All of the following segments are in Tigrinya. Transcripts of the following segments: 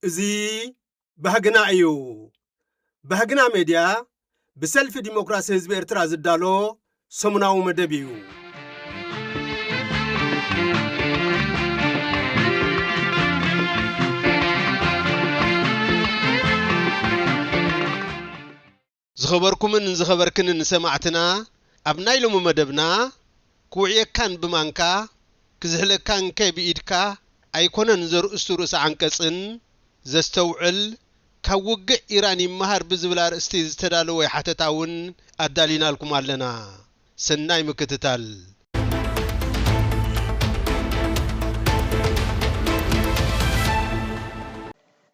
እዚ ባህግና እዩ። ባህግና ሜድያ ብሰልፊ ዲሞክራሲ ህዝቢ ኤርትራ ዝዳሎ ሰሙናዊ መደብ እዩ። ዝኸበርኩምን ዝኸበርክንን ሰማዕትና ኣብ ናይ ሎሚ መደብና ክውዕየካን ብማንካ ክዝሕለካንከ ብኢድካ ኣይኮነን ዘርእስቱ ርእሰ ዓንቀጽን ዘስተውዕል ካብ ውግዕ ኢራን ይመሃር ብዝብል ኣርእስቲ ዝተዳለወ ሓተታ እውን ኣዳሊናልኩም ኣለና። ሰናይ ምክትታል።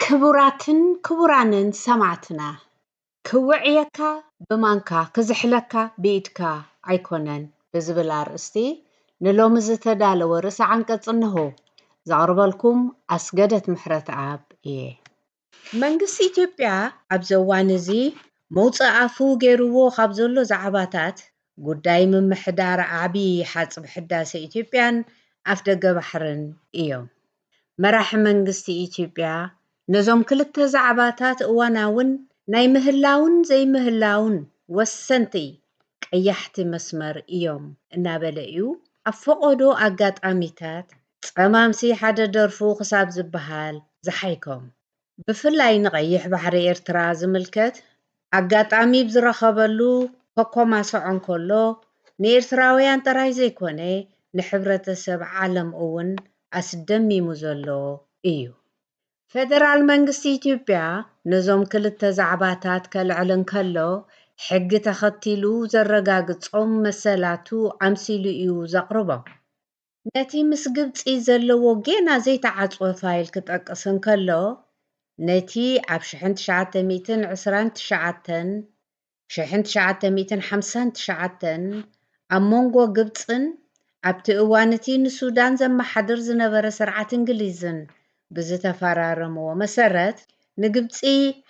ክቡራትን ክቡራንን ሰማዕትና ክውዕየካ ብማንካ ክዝሕለካ ብኢድካ ኣይኮነን ብዝብል ኣርእስቲ ንሎሚ ዝተዳለወ ርእሰ ዓንቀጽ እነሆ። ዘቕርበልኩም ኣስገደት ምሕረትኣብ እየ። መንግስቲ ኢትዮጵያ ኣብዚ እዋን እዚ መውጽኢ ኣፉ ገይርዎ ካብ ዘሎ ዛዕባታት፣ ጉዳይ ምምሕዳር ዓቢ ሓጽቢ ሕዳሰ ኢትዮጵያን ኣፍደገ ባሕርን እዮም። መራሒ መንግስቲ ኢትዮጵያ ነዞም ክልተ ዛዕባታት እዋናውን ናይ ምህላውን ዘይምህላውን ወሰንቲ ቀያሕቲ መስመር እዮም እናበለ'ዩ ኣብ ፈቖዶ ኣጋጣሚታት ጸማምሲ ሓደ ደርፉ ክሳብ ዝበሃል ዝሓይኮም ብፍላይ ንቀይሕ ባሕሪ ኤርትራ ዝምልከት ኣጋጣሚ ብ ዝረኸበሉ ከኮማስዖ እንከሎ ንኤርትራውያን ጥራይ ዘይኮነ ንሕብረተሰብ ዓለም እውን ኣስደሚሙ ዘሎ እዩ። ፈደራል መንግስቲ ኢትዮጵያ ነዞም ክልተ ዛዕባታት ከልዕል እንከሎ ሕጊ ተኸቲሉ ዘረጋግጾም መሰላቱ ኣምሲሉ እዩ ዘቕርቦም። ነቲ ምስ ግብጺ ዘለዎ ጌና ዘይተዓጽወ ፋይል ክጠቅስ እንከሎ፣ ነቲ ኣብ ሽሕን ትሽዓተ ሚእትን ዕስራን ትሽዓተን፣ ሽሕን ትሽዓተ ሚእትን ሓምሳን ትሽዓተን፣ ኣብ ሞንጎ ግብጽን ኣብቲ እዋን'ቲ ንሱዳን ዘመሓድር ዝነበረ ስርዓት እንግሊዝን ብዝተፈራረምዎ መሰረት፣ ንግብጺ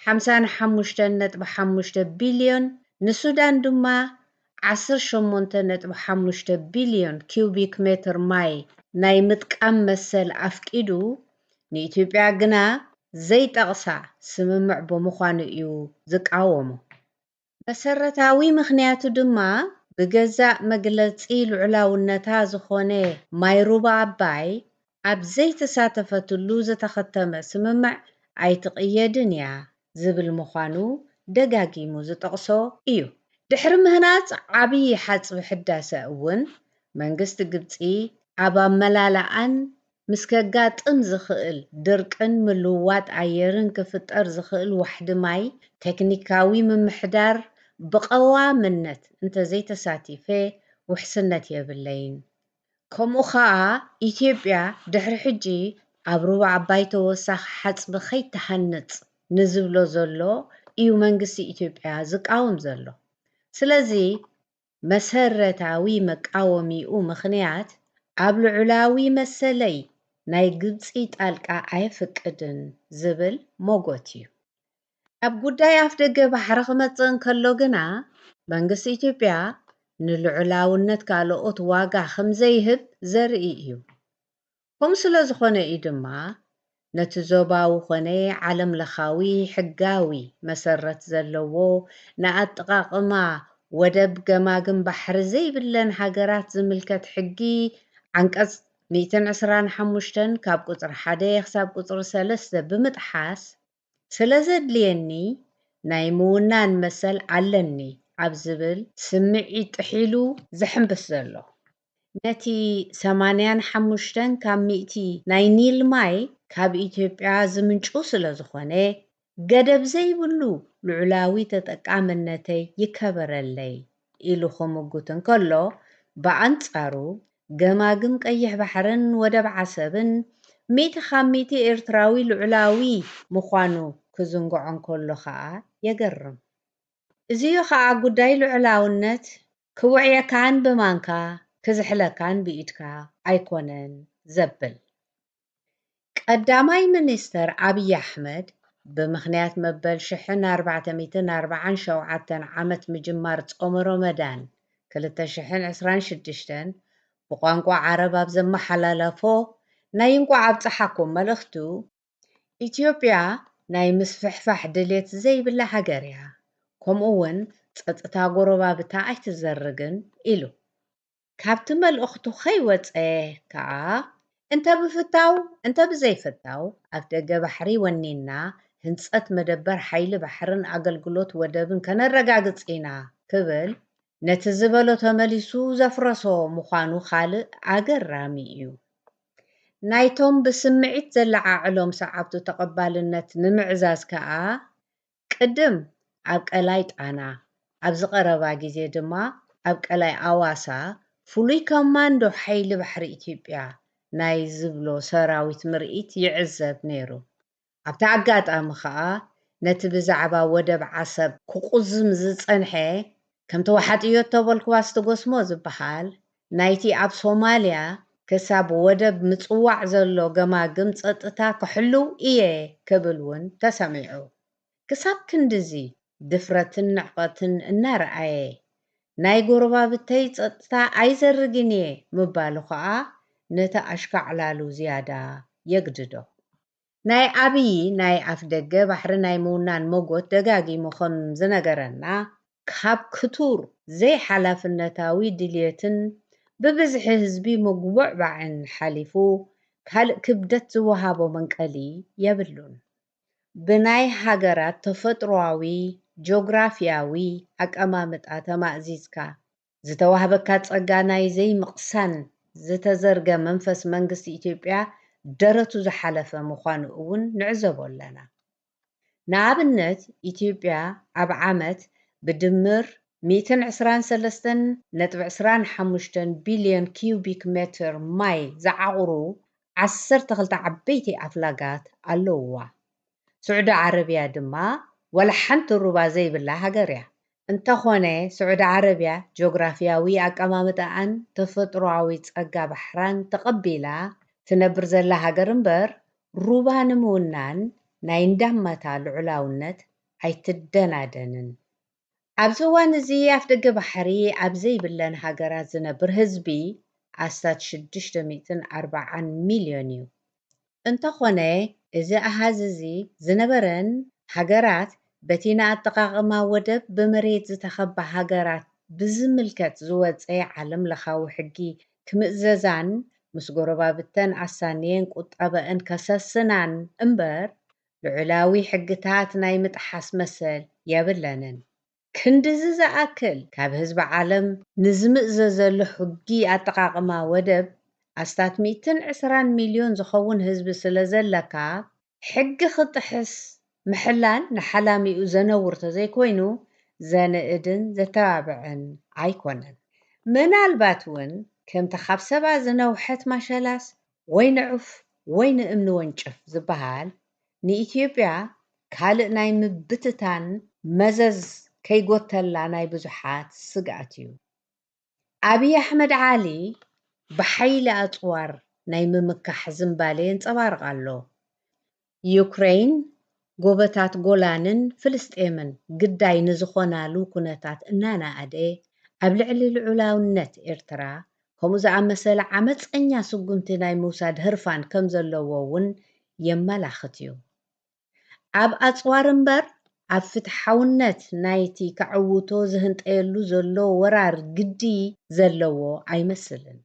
ሓምሳን ሓሙሽተን ነጥቢ ሓሙሽተ ቢልዮን፣ ንሱዳን ድማ ዓሰርተ ሸሞንተ ነጥቢ ሓሙሽተ ቢልዮን ኪዩቢክ ሜትር ማይ ናይ ምጥቃም መሰል ኣፍቂዱ፣ ንኢትዮጵያ ግና ዘይጠቕሳ ስምምዕ ብምዃኑ እዩ ዝቃወሞ። መሰረታዊ ምኽንያቱ ድማ ብገዛእ መግለጺ ልዑላውነታ ዝኾነ ማይ ሩባ ኣባይ ኣብ ዘይተሳተፈትሉ ዝተኸተመ ስምምዕ ኣይትቕየድን እያ ዝብል ምዃኑ ደጋጊሙ ዝጠቕሶ እዩ። ድሕሪ ምህናጽ ዓብዪ ሓጽቢ ሕዳሰ እውን መንግስቲ ግብጺ ኣብ ኣመላልኣን ምስ ከጋጥም ዝኽእል ድርቅን ምልውዋጥ ኣየርን ክፍጠር ዝኽእል ዋሕዲ ማይ ቴክኒካዊ ምምሕዳር ብቐዋምነት እንተዘይተሳቲፈ ውሕስነት የብለይን ከምኡ ከኣ ኢትዮጵያ ድሕሪ ሕጂ ኣብ ሩባ ኣባይ ተወሳኺ ሓጽቢ ከይትሃንጽ ንዝብሎ ዘሎ ኢዩ መንግስቲ ኢትዮጵያ ዝቃወም ዘሎ። ስለዚ መሰረታዊ መቃወሚኡ ምኽንያት ኣብ ልዑላዊ መሰለይ ናይ ግብጺ ጣልቃ ኣየፍቅድን ዝብል ሞጎት ኢዩ። ኣብ ጉዳይ ኣፍደገ ባሕሪ ክመጽእ እንከሎ ግና፣ መንግስቲ ኢትዮጵያ ንልዑላውነት ካልኦት ዋጋ ከምዘይህብ ዘርኢ እዩ። ከምኡ ስለዝኾነ እዩ ድማ ነቲ ዞባዊ ኮነ ዓለምለኻዊ ሕጋዊ መሰረት ዘለዎ ንኣጠቓቕማ ወደብ ገማግም ባሕሪ ዘይብለን ሃገራት ዝምልከት ሕጊ ዓንቀጽ ሚእትን ዕስራን ሓሙሽተን ካብ ቁጽሪ ሓደ ክሳብ ቁጽሪ ሰለስተ ብምጥሓስ ስለዘድልየኒ ናይ ምውናን መሰል ኣለኒ ኣብ ዝብል ስምዒት ጥሒሉ ዘሕምብስ ዘሎ። ነቲ ሰማንያን ሓሙሽተን ካብ ሚእቲ ናይ ኒል ማይ ካብ ኢትዮጵያ ዝምንጩ ስለዝኾነ ገደብ ዘይብሉ ልዑላዊ ተጠቃምነተይ ይከበረለይ ኢሉ ክምጉት እንከሎ ብኣንጻሩ ገማግም ቀይሕ ባሕርን ወደብ ዓሰብን ሚእቲ ካብ ሚእቲ ኤርትራዊ ልዑላዊ ምዃኑ ክዝንግዖ እንከሎ ከኣ የገርም። እዚ'ዩ ከኣ ጉዳይ ልዑላውነት ክውዕየካን ብማንካ ክዝሕለካን ብኢድካ ኣይኮነን ዘብል። ቀዳማይ ሚኒስተር ኣብዪ ኣሕመድ፣ ብምኽንያት መበል ሽሕን ኣርባዕተ ሚእትን ኣርብዓን ሸውዓተን ዓመት ምጅማር ጾመ ሮመዳን ክልተ ሽሕን ዕስራን ሽዱሽተን ብቋንቋ ዓረብ ኣብ ዘመሓላለፎ ናይ እንቋዕ ኣብጽሓኩም መልእኽቱ፣ ኢትዮጵያ ናይ ምስፍሕፋሕ ድሌት ዘይብላ ሃገር'ያ፣ ከምኡ'ውን ጸጥታ ጎረባብታ ኣይትዘርግን ኢሉ። ካብቲ መልእኽቱ ከይወጸ ከኣ፣ እንተ ብፍታው እንተ ብዘይፍታው ኣፍደገ ባሕሪ ወኒንና ህንጸት መደበር ሓይሊ ባሕርን ኣገልግሎት ወደብን ከነረጋግጽ ኢና ክብል ነቲ ዝበሎ ተመሊሱ ዘፍረሶ ምዃኑ ካልእ ኣገራሚ እዩ። ናይቶም ብስምዒት ዘለዓዕሎም ሰዓብቱ ተቐባልነት ንምዕዛዝ ከኣ ቅድም ኣብ ቀላይ ጣና ኣብዚ ቀረባ ግዜ ድማ ኣብ ቀላይ ኣዋሳ ፍሉይ ኮማንዶ ሓይሊ ባሕሪ ኢትዮጵያ ናይ ዝብሎ ሰራዊት ምርኢት ይዕዘብ ነይሩ። ኣብቲ ኣጋጣሚ ከኣ ነቲ ብዛዕባ ወደብ ዓሰብ ክቁዝም ዝጸንሐ ከም ተወሓጥዮ እተበልኩዋስ ትጎስሞ ዝበሃል ናይቲ ኣብ ሶማልያ ክሳብ ወደብ ምጽዋዕ ዘሎ ገማግም ጸጥታ ክሕልው ኢየ ክብል ውን ተሰሚዑ። ክሳብ ክንድዚ ድፍረትን ንዕቐትን እናርኣየ፣ ናይ ጎረባብተይ ጸጥታ ኣይዘርግን ኢየ ምባሉ ከኣ ነቲ ኣሽካዕላሉ ዝያዳ የግድዶ። ናይ ኣብዪ ናይ ኣፍደገ ባሕሪ ናይ ምውናን መጎት ደጋጊሙ ከም ዝነገረና ካብ ክቱር ዘይሓላፍነታዊ ድልየትን ብብዝሒ ህዝቢ ምጉብዕባዕን ሓሊፉ ካልእ ክብደት ዝወሃቦ መንቀሊ የብሉን። ብናይ ሃገራት ተፈጥሮኣዊ ጆግራፊያዊ ኣቀማምጣ ተማእዚዝካ ዝተዋህበካ ጸጋ ናይ ዘይምቕሳን ዝተዘርገ መንፈስ መንግስቲ ኢትዮጵያ ደረቱ ዝሓለፈ ምዃኑ እውን ንዕዘቦ ኣለና። ንኣብነት ኢትዮጵያ ኣብ ዓመት ብድምር ሚእትን ዕስራን ሰለስተን ነጥቢ ዕስራን ሓሙሽተን ቢልዮን ኪዩቢክ ሜትር ማይ ዝዓቑሩ ዓሰርተ ክልተ ዓበይቲ ኣፍላጋት ኣለዉዋ። ስዑዲ ዓረብያ ድማ ዋላ ሓንቲ ሩባ ዘይብላ ሃገር እያ። እንተዀነ፣ ስዑዲ ዓረብያ ጆግራፍያዊ ኣቀማምጣኣን ተፈጥሮኣዊ ጸጋ ባሕራን ተቐቢላ ትነብር ዘላ ሃገር እምበር፣ ሩባ ንምውናን ናይ እንዳማታ ልዑላውነት ኣይትደናደንን። ኣብዚ እዋን እዚ ኣፍደገ ባሕሪ ኣብ ዘይብለን ሃገራት ዝነብር ህዝቢ ኣስታት ሽዱሽተ ሚእትን ኣርባዓን ሚልዮን እዩ። እንተኾነ እዚ ኣሃዝ እዚ ዝነበረን ሃገራት በቲ ንኣጠቓቕማ ወደብ ብመሬት ዝተኸባ ሃገራት ብዝምልከት ዝወጸ ዓለምለኻዊ ሕጊ ክምእዘዛን ምስ ጎረባብተን ኣሳንየን ቁጠበኣን ከሰስናን እምበር ልዑላዊ ሕግታት ናይ ምጥሓስ መሰል የብለንን። ክንድዚ ዝኣክል ካብ ህዝቢ ዓለም ንዝምእዘዘሉ ሕጊ ኣጠቓቕማ ወደብ ኣስታት ሚእትን ዕስራን ሚልዮን ዝኸውን ህዝቢ ስለ ዘለካ ሕጊ ክጥሕስ ምሕላን ንሓላሚኡ ዘነውር ተዘይኮይኑ ዘንእድን ዘተባብዕን ኣይኮነን። ምናልባት እውን ከምቲ ካብ ሰባ ዝነውሐት ማሸላስ ወይ ንዑፍ ወይ ንእምኒ ወንጭፍ ዝበሃል ንኢትዮጵያ ካልእ ናይ ምብትታን መዘዝ ከይጎተላ ናይ ብዙሓት ስግኣት እዩ። ኣብይ ኣሕመድ ዓሊ ብሓይሊ ኣጽዋር ናይ ምምካሕ ዝንባሌ የንጸባርቕ ኣሎ። ዩክረይን፣ ጎቦታት ጎላንን ፍልስጤምን ግዳይ ንዝኾናሉ ኩነታት እናነኣደ፣ ኣብ ልዕሊ ልዑላውነት ኤርትራ ከምኡ ዝኣመሰለ ዓመጸኛ ስጉምቲ ናይ ምውሳድ ህርፋን ከምዘለዎ እውን የመላኽት እዩ። ኣብ ኣጽዋር እምበር ኣብ ፍትሓውነት ናይቲ ከዕውቶ ዝህንጠየሉ ዘሎ ወራር ግዲ ዘለዎ ኣይመስልን።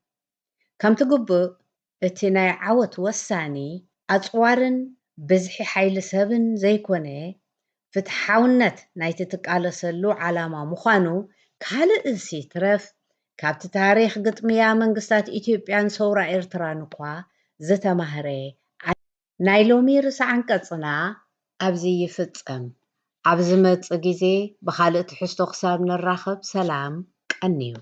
ከምቲ ግቡእ እቲ ናይ ዓወት ወሳኒ ኣጽዋርን ብዝሒ ሓይሊ ሰብን ዘይኮነ ፍትሓውነት ናይቲ ትቃለሰሉ ዓላማ ምዃኑ ካልእስ ይትረፍ ካብቲ ታሪኽ ግጥምያ መንግስታት ኢትዮጵያን ሰውራ ኤርትራን'ኳ ዝተማህረ ናይ ሎሚ ርእሰ ዓንቀጽና ኣብዚ ይፍጸም። ኣብ ዝመጽእ ግዜ ብኻልእ ትሕዝቶ ክሳብ ንራኸብ ሰላም ቀንዩ።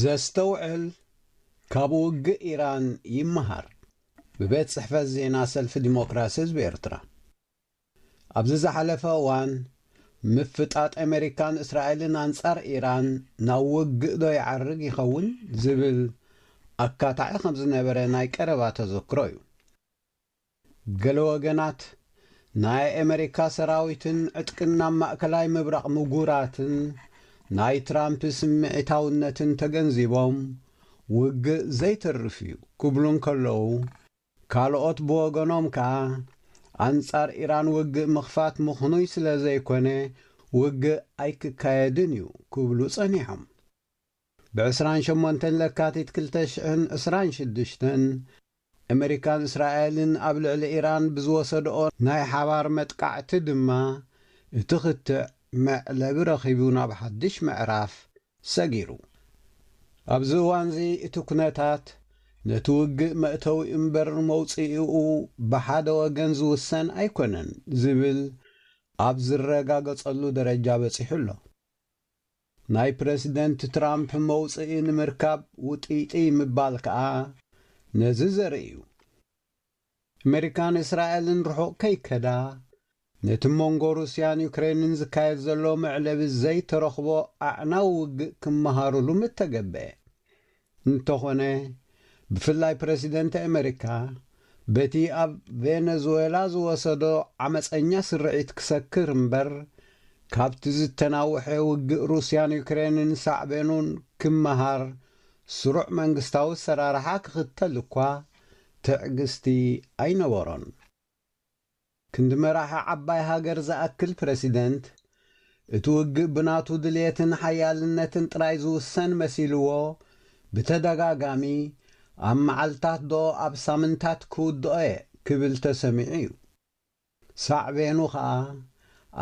ዘስተውዕል ካብ ውግእ ኢራን ይመሃር ብቤት ጽሕፈት ዜና ሰልፊ ዲሞክራሲ ህዝቢ ኤርትራ። ኣብዚ ዝሓለፈ እዋን፣ ምፍጣጥ ኣመሪካን እስራኤልን ኣንጻር ኢራን ናብ ውግእ'ዶ ይዓርግ ይኸውን ዝብል ኣካታዒ ከም ዝነበረ ናይ ቀረባ ተዘክሮ'ዩ። ገለ ወገናት፣ ናይ ኣመሪካ ሰራዊትን ዕጥቅን ናብ ማእከላይ ምብራቕ ምጉራትን ናይ ትራምፕ ስምዒታውነትን ተገንዚቦም ውግእ ዘይተርፍ'ዩ ክብሉ እንከለዉ፣ ካልኦት ብወገኖም ከኣ፣ ኣንጻር ኢራን ውግእ ምኽፋት ምኽኑይ ስለ ዘይኮነ ውግእ ኣይክካየድን እዩ ክብሉ ጸኒሖም። ብ ዕስራን ሸሞንተን ለካቲት ክልተ ሽሕን ዕስራን ሽዱሽተን፣ ኣመሪካን እስራኤልን ኣብ ልዕሊ ኢራን ብዝወሰድኦ ናይ ሓባር መጥቃዕቲ ድማ፣ እቲ ክትዕ መዕለቢ ረኺቡ ናብ ሓድሽ ምዕራፍ ሰጊሩ። ኣብዚ እዋንዚ እቲ ኩነታት ነቲ ውግእ መእተዊ እምበር መውጽኢኡ ብሓደ ወገን ዝውሰን ኣይኮነን ዝብል ኣብ ዝረጋገጸሉ ደረጃ በጺሑ ኣሎ። ናይ ፕረሲደንት ትራምፕ መውጽኢ ንምርካብ ውጥይጥይ ምባል ከኣ ነዚ ዘርኢ'ዩ። ኣመሪካን እስራኤልን ርሑቕ ከይከዳ፣ ነቲ ሞንጎ ሩስያን ዩክረይንን ዝካየድ ዘሎ መዕለቢ ዘይተረኽቦ ኣዕናዊ ውግእ ክመሃሩሉ ምተገብኤ። እንተኾነ፣ ብፍላይ ፕረሲደንት ኣመሪካ፣ በቲ ኣብ ቬነዙዌላ ዝወሰዶ ዓመጸኛ ስርዒት ክሰክር እምበር፣ ካብቲ ዝተናውሐ ውግእ ሩስያን ዩክረይንን ሳዕቤኑን ክመሃር ስሩዕ መንግስታዊ ኣሰራርሓ ክኽተል እኳ ትዕግስቲ ኣይነበሮን። ክንዲ መራሒ ዓባይ ሃገር ዝኣክል ፕረሲደንት፣ እቲ ውግእ ብናቱ ድልየትን ሓያልነትን ጥራይ ዝውሰን መሲልዎ፣ ብተደጋጋሚ፣ ኣብ መዓልታትዶ ኣብ ሳምንታት ክውድኦ'የ ክብል ተሰሚዑ'ዩ። ሳዕቤኑ ከኣ፣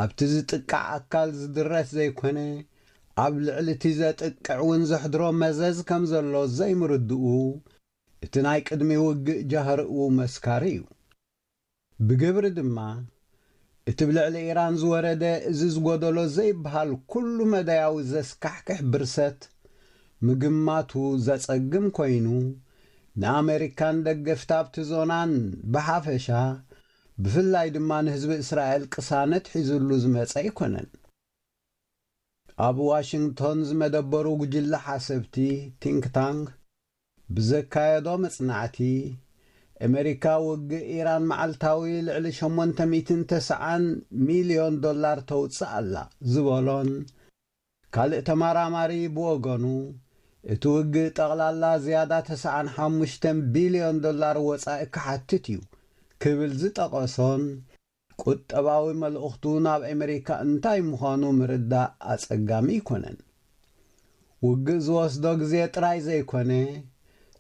ኣብቲ ዝጥቃዕ ኣካል ዝድረት ዘይኮነ፣ ኣብ ልዕሊ'ቲ ዘጥቅዕ'ውን ዘሕድሮ መዘዝ ከም ዘሎ ዘይምርድኡ፣ እቲ ናይ ቅድሚ ውግእ ጃህርኡ መስካሪ እዩ። ብግብሪ ድማ፣ እቲ ብ ልዕሊ ኢራን ዝወረደ እዚ ዝጎደሎ ዘይብሃል ኩሉ መዳያዊ ዘስካሕክሕ ብርሰት፣ ምግማቱ ዘጸግም ኮይኑ፣ ን ኣመሪካን ደገፍቲ ኣብቲ ዞናን ብሓፈሻ፣ ብፍላይ ድማ ንህዝቢ እስራኤል ቅሳነት ሒዝሉ ዝመጸ ኣይኮነን። ኣብ ዋሽንግቶን ዝመደበሩ ጉጅለ ሓሰብቲ፣ Think Tank፣ ብዘካየዶ መጽናዕቲ፣ ኤመሪካ ውግእ ኢራን መዓልታዊ ልዕሊ ሸሞንተ ሚእትን ተሰዓን ሚልዮን ዶላር ተውጽእ ኣላ ዝበሎን ካልእ ተመራማሪ ብወገኑ እቲ ውግእ ጠቕላላ ዝያዳ ተሰዓን ሓሙሽተን ቢልዮን ዶላር ወጻኢ ክሓትት እዩ ክብል ዝጠቐሶን ቁጠባዊ መልእኽቱ ናብ ኣመሪካ እንታይ ምዃኑ ምርዳእ ኣጸጋሚ ኣይኮነን። ውግእ ዝወስዶ ግዜ ጥራይ ዘይኮነ፣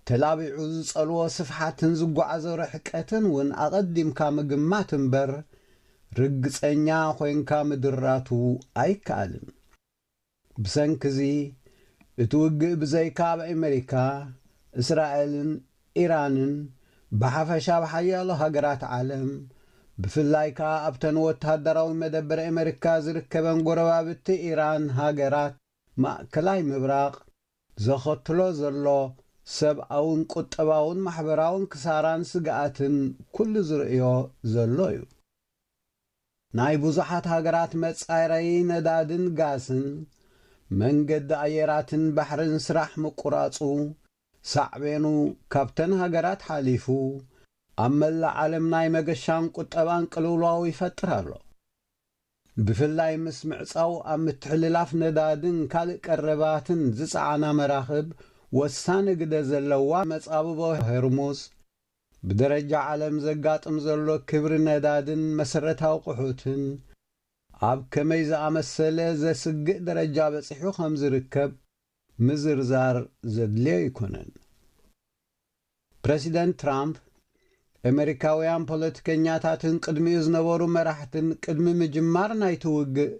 ተላቢዑ ዝጸልዎ ስፍሓትን ዝጓዓዞ ርሕቀትን እውን ኣቐዲምካ ምግማት እምበር ርግጸኛ ኮይንካ ምድራቱ ኣይከኣልን። ብሰንኪ'ዚ እቲ ውግእ ብዘይካ ኣብ ኣመሪካ፣ እስራኤልን ኢራንን ብሓፈሻ ኣብ ሓያሎ ሃገራት ዓለም ብፍላይ ከኣ ኣብተን ወተሃደራዊ መደበር ኣመሪካ ዝርከበን ጎረባብቲ ኢራን ሃገራት ማእከላይ ምብራቕ ዘኸትሎ ዘሎ ሰብኣውን ቁጠባውን ማሕበራውን ክሳራን ስግኣትን ኩሉ ዝርእዮ ዘሎ'ዩ። ናይ ብዙሓት ሃገራት መጻረዪ ነዳድን ጋስን መንገዲ ኣየራትን ባሕርን ስራሕ ምቁራጹ ሳዕቤኑ ካብተን ሃገራት ሓሊፉ ኣብ መላእ ዓለም ናይ መገሻን ቁጠባን ቅልውላው ይፈጥር ኣሎ። ብፍላይ ምስ ምዕጻው ኣብ ምትሕልላፍ ነዳድን ካልእ ቀረባትን ዝጸዓና መራኽብ ወሳኒ ግደ ዘለዋ መጻብቦ ሆርሙዝ፣ ብደረጃ ዓለም ዘጋጥም ዘሎ ክብሪ ነዳድን መሰረት ኣቑሑትን ኣብ ከመይ ዝኣመሰለ ዘስግእ ደረጃ በጺሑ ከም ዝርከብ ምዝርዛር ዘድልዮ ኣይኮነን። ፕረሲደንት ትራምፕ፣ ኤመሪካውያን ፖለቲከኛታትን ቅድሚኡ ዝነበሩ መራሕትን ቅድሚ ምጅማር ናይቲ ውግእ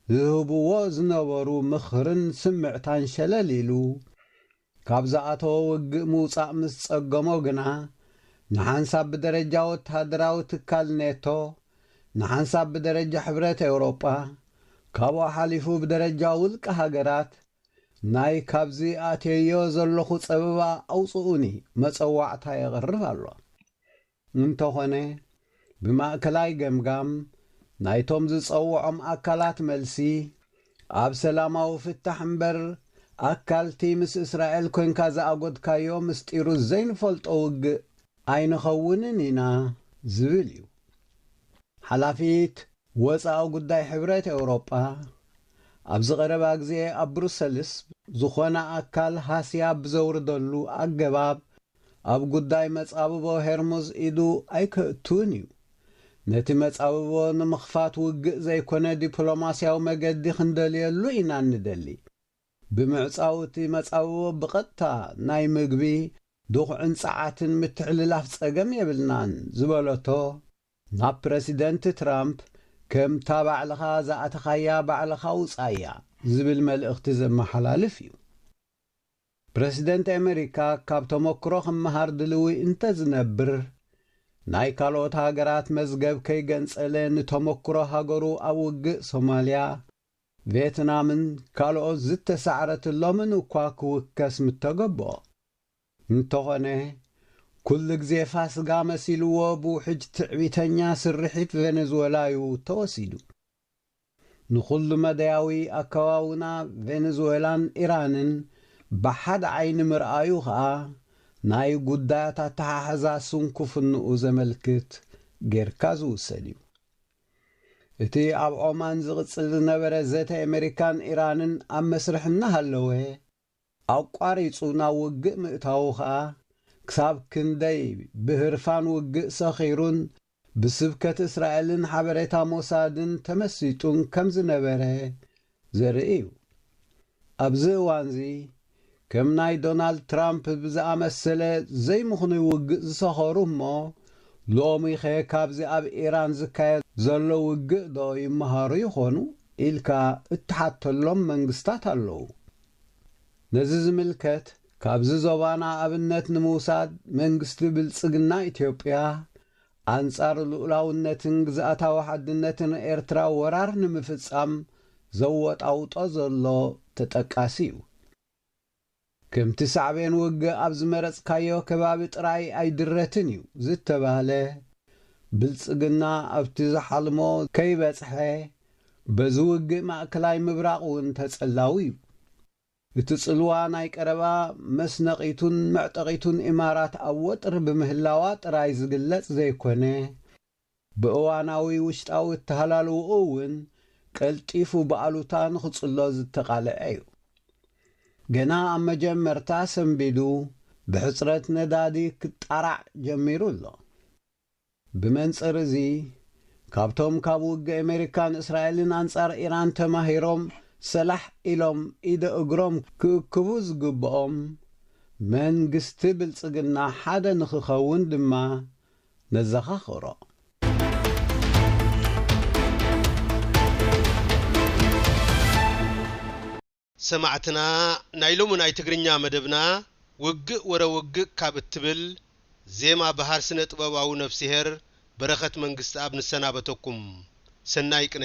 ዝህብዎ ዝነበሩ ምኽርን ስምዕታን ሸለል ኢሉ፣ ካብ ዝኣተዎ ውግእ ምውጻእ ምስ ጸገሞ ግና፣ ንሓንሳብ ብደረጃ ወተሃደራዊ ትካል ኔቶ፣ ንሓንሳብ ብደረጃ ሕብረት ኤውሮጳ፣ ካብኡ ሓሊፉ ብደረጃ ውልቀ ሃገራት፣ ናይ ካብዚ ኣትየዮ ዘለኹ ጸበባ ኣውጽኡኒ መጸዋዕታ የቕርብ ኣሎ። እንተኾነ ብማእከላይ ገምጋም ናይቶም ዝጸውዖም ኣካላት መልሲ ኣብ ሰላማዊ ፍታሕ እምበር ኣካልቲ ምስ እስራኤል ኮንካ ዝኣጎድካዮ ምስጢሩ ዘይንፈልጦ ውግእ ኣይንኸውንን ኢና ዝብል እዩ። ሓላፊት ወጻኢ ጉዳይ ሕብረት ኤውሮጳ ኣብዚ ቀረባ ግዜ ኣብ ብሩሰልስ ዝኾነ ኣካል ሃስያ ብዘውርደሉ ኣገባብ ኣብ ጉዳይ መጻብቦ ሄርሙዝ ኢዱ ኣይከእቱን እዩ። ነቲ መጻብቦ ንምኽፋት ውግእ ዘይኮነ ዲፕሎማስያዊ መገዲ ክንደልየሉ ኢና እንደሊ። ብምዕጻው እቲ መጻብቦ ብቐጥታ ናይ ምግቢ፣ ድኹዕን ጸዓትን ምትሕልላፍ ጸገም የብልናን ዝበለቶ፣ ናብ ፕረሲደንት ትራምፕ ከምታ ባዕልኻ ዝኣተኻያ ባዕልኻ ውጻያ ዝብል መልእኽቲ ዘመሓላልፍ እዩ። ፕረሲደንት ኤመሪካ ካብ ተሞክሮ ክመሃር ድልዊ እንተዝነብር ናይ ካልኦት ሃገራት መዝገብ ከይገንጸለ ንተሞክሮ ሃገሩ ኣብ ውግእ ሶማልያ፣ ቬትናምን ካልኦት ዝተሳዕረትሎምን እኳ ክውከስ ምተገብኦ። እንተኾነ ኩሉ ግዜ ፋስጋ መሲልዎ ብውሕጅ ትዕቢተኛ ስርሒት ቬነዝወላዩ ተወሲዱ። ንኹሉ-መዳያዊ ኣከዋውና ቬነዝወላን ኢራንን ብሓደ ዓይኒ ምርኣዩ ከኣ፣ ናይ ጉዳያት ኣተሓሕዛ ስንኩፍንኡ ዘመልክት ጌርካ ዝውሰድ እዩ። እቲ ኣብ ዖማን ዝቕጽል ዝነበረ ዘተ ኤመሪካን ኢራንን ኣብ መስርሕ እናሃለወ፣ ኣቋሪጹ ናብ ውግእ ምእታዉ ከኣ ክሳብ ክንደይ ብህርፋን ውግእ ሰኺሩን ብስብከት እስራኤልን ሓበሬታ ሞሳድን ተመሲጡን ከም ዝነበረ ዘርኢ እዩ። ኣብዚ እዋንዚ ከም ናይ ዶናልድ ትራምፕ ብዝኣመሰለ ዘይምኽኑይ ውግእ ዝሰኸሩ እሞ ሎሚኸ ካብዚ ኣብ ኢራን ዝካየድ ዘሎ ውግእዶ ይመሃሩ ይኾኑ? ኢልካ እትሓተሎም መንግስታት ኣለዉ። ነዚ ዝምልከት ካብዚ ዞባና ኣብነት ንምውሳድ መንግስቲ ብልጽግና ኢትዮጵያ ኣንጻር ልኡላውነትን ግዝኣታዊ ሓድነትን ኤርትራ ወራር ንምፍጻም ዘወጣውጦ ዘሎ ተጠቃሲ እዩ። ከምቲ ሳዕቤን ውግእ ኣብ ዝመረጽካዮ ከባቢ ጥራይ ኣይድረትን እዩ ዝተባህለ፣ ብልጽግና ኣብቲ ዝሓልሞ ከይበጽሐ በዚ ውግእ ማእከላይ ምብራቕ እውን ተጸላዊ እዩ። እቲ ጽልዋ ናይ ቀረባ መስነቒቱን መዕጠቒቱን ኢማራት ኣብ ወጥሪ ብምህላዋ ጥራይ ዝግለጽ ዘይኮነ፣ ብእዋናዊ ውሽጣዊ እተሃላልዎኡ እውን ቀልጢፉ ብኣሉታ ንኽጽሎ ዝተቓልዐ እዩ። ገና ኣብ መጀመርታ ሰንቢዱ ብሕጽረት ነዳዲ ክጣራዕ ጀሚሩ ኣሎ። ብመንጽር እዚ፣ ካብቶም ካብ ውግእ ኣመሪካን እስራኤልን ኣንጻር ኢራን ተማሂሮም ሰላሕ ኢሎም ኢደ እግሮም ክእክቡ ዝግብኦም፣ መንግስቲ ብልጽግና ሓደ ንኽኸውን ድማ ነዘኻኽሮ። ሰማዕትና ናይ ሎሚ ናይ ትግርኛ መደብና ውግእ ወረ ውግእ ካብ እትብል ዜማ በሃር ስነ ጥበባዊ ነፍስሄር በረኸት መንግስትኣብ ንሰናበተኩም። ሰናይ ቅነ።